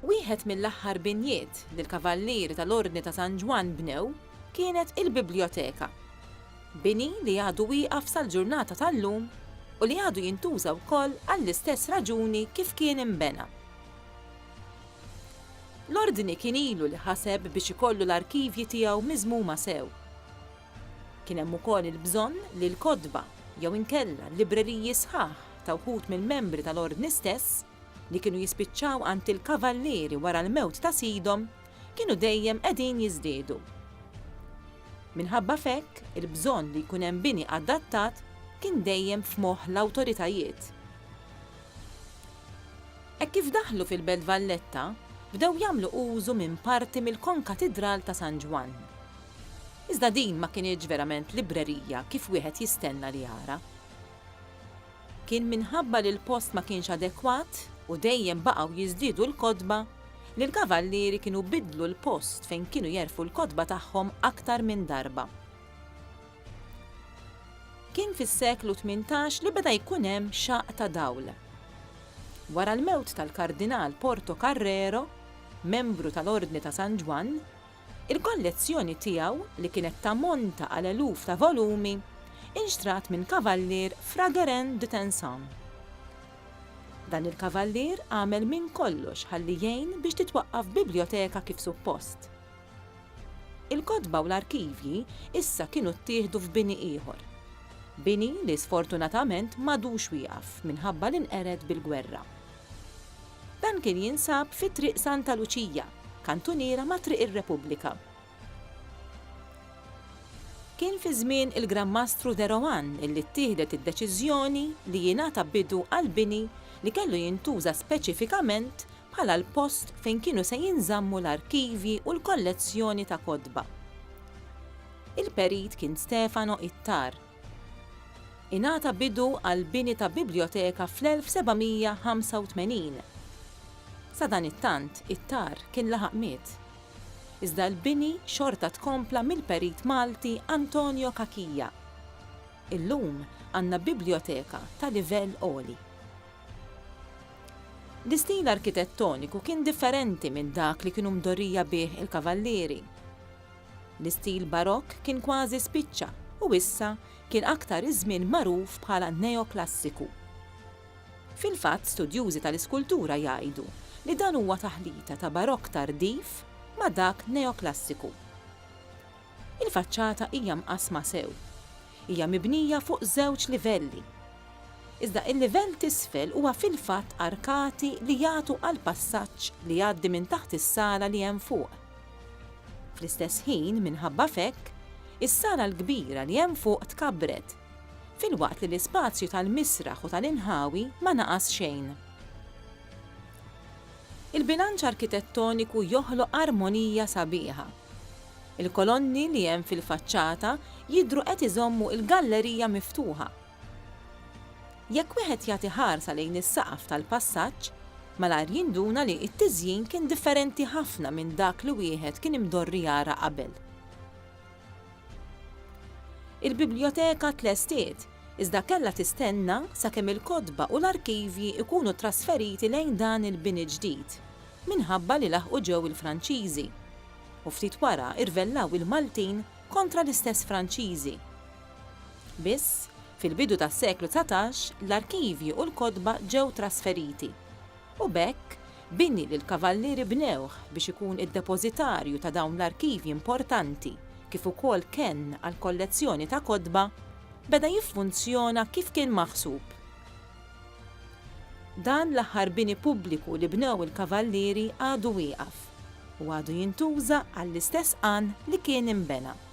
Wieħed mill-aħħar binjiet li l-Kavallieri tal-Ordni ta' San Ġwann bnew kienet il-Bibljoteka. Bini li għadu wieqaf sal-ġurnata tal-lum u li għadu jintuża wkoll għall-istess raġuni kif kien inbena. L-Ordni kien ilu li ħaseb biex ikollu l-arkivji tiegħu miżmuma sew. Kien hemm ukoll il-bżonn li l-kotba jew inkella l-libreriji sħaħ ta' wħud mill-membri tal-Ordni stess, li kienu jispiċċaw għand il-kavallieri wara l-mewt ta' sidhom kienu dejjem qegħdin jiżdiedu. Minħabba f'hekk, il-bżonn li jkun hemm bini adattat kien dejjem f'moħħ l-awtoritajiet. Hekk kif daħlu fil-Belt Valletta, bdew jagħmlu użu minn parti mill-Konkatidral ta' San Ġwann. Iżda din ma kinitx verament librerija kif wieħed jistenna li jara. Kien minħabba li l-post ma kienx adekwat u dejjem baqgħu jiżdiedu l-kotba li l-kavallieri kienu biddlu l-post fejn kienu jerfgħu l-kotba tagħhom aktar minn darba. Kien fis-seklu tmintax li beda jkun hemm xaqq ta' dawl. Wara l-mewt tal-Kardinal Porto Carrero, membru tal-Ordni ta' San Ġwann, Il-kollezzjoni tiegħu, li kienet tammonta għal eluf ta' volumi, inxtrat minn kavallier Frageren de Tensan. Dan il-kavallier għamel minn kollox ħalli jgħin biex titwaqqaf bibljoteka kif suppost. Il-kotba u l-arkivji issa kienu ttieħdu f'bini ieħor. Bini li sfortunatament m'għadux wieqaf minħabba li nqered bil-gwerra. Dan kien jinsab fi Triq Santa Luċija, kantuniera ma' Triq ir-Repubblika. Kien fi żmien il-Gran Mastru De Rohan li ttieħdet id-deċiżjoni li jingħata bidu għall-bini li kellu jintuża speċifikament bħala l-post fejn kienu se jinżammu l-arkivji u l-kollezzjoni ta' kotba. Il-Perit kien Stefano Ittar. Ingħata bidu għall-bini ta' bibljoteka fl-1785. Sadanittant, it-tar kien laħaq miet. Iżda l-bini xorta tkompla mill-perit Malti Antonio Cachia. Illum għandna bibljoteka ta' livell għoli. L-istil arkitettoniku kien differenti minn dak li kienu mdorrija bih il-Kavallieri. L-istil Barokk kien kważi spiċċa u issa kien aktar iż-żmien magħruf bħala Neoklassiku. Fil-fatt studjużi tal-iskultura jgħidu li dan huwa taħlita ta' Barokk tardiv ma' dak Neoklassiku. Il-faċċata hija mqassma sew. Hija mibnija fuq żewġ livelli. Iżda il-livell t'isfel huwa fil-fatt arkati li jagħtu għall-passaġġ li jgħaddi minn taħt is-sala li hemm fuq. Fl-istess ħin, minħabba f'hekk, is-sala l-kbira li hemm fuq tkabbret, filwaqt li l-ispazju tal-misraħ u tal-inħawi ma naqas xejn. Il-bilanċ arkitettoniku joħloq armonija sabiħa. Il-kolonni li hemm fil-faċċata jidhru qed iżommu l-gallerija miftuħa, Jekk wieħed jagħti ħarsa lejn is-saqaf tal-passaġġ, malajr jinduna li t-tiżjin kien differenti ħafna minn dak li wieħed kien imdorri jara qabel. Il-bibljoteka tlestiet, iżda kellha tistenna sakemm il-kotba u l-arkivji jkunu trasferiti lejn dan il-bini ġdid, minħabba li laħqu ġew il-Franċiżi, u ftit wara rvellaw il-Maltin kontra l-istess Franċiżi. Biss, fil-bidu tas-seklu dsatax l-arkivji u l-kotba ġew trasferiti, u b'hekk bini li l-Kavallieri bnewh biex ikun id-depożitarju ta' dawn l-arkivji importanti kif ukoll kenn għall-kollezzjoni ta' kotba, beda jiffunzjona kif kien maħsub. Dan l-aħħar bini pubbliku li bnew il-Kavallieri għadu wieqaf u għadu jintuża għall-istess għan li kien inbena.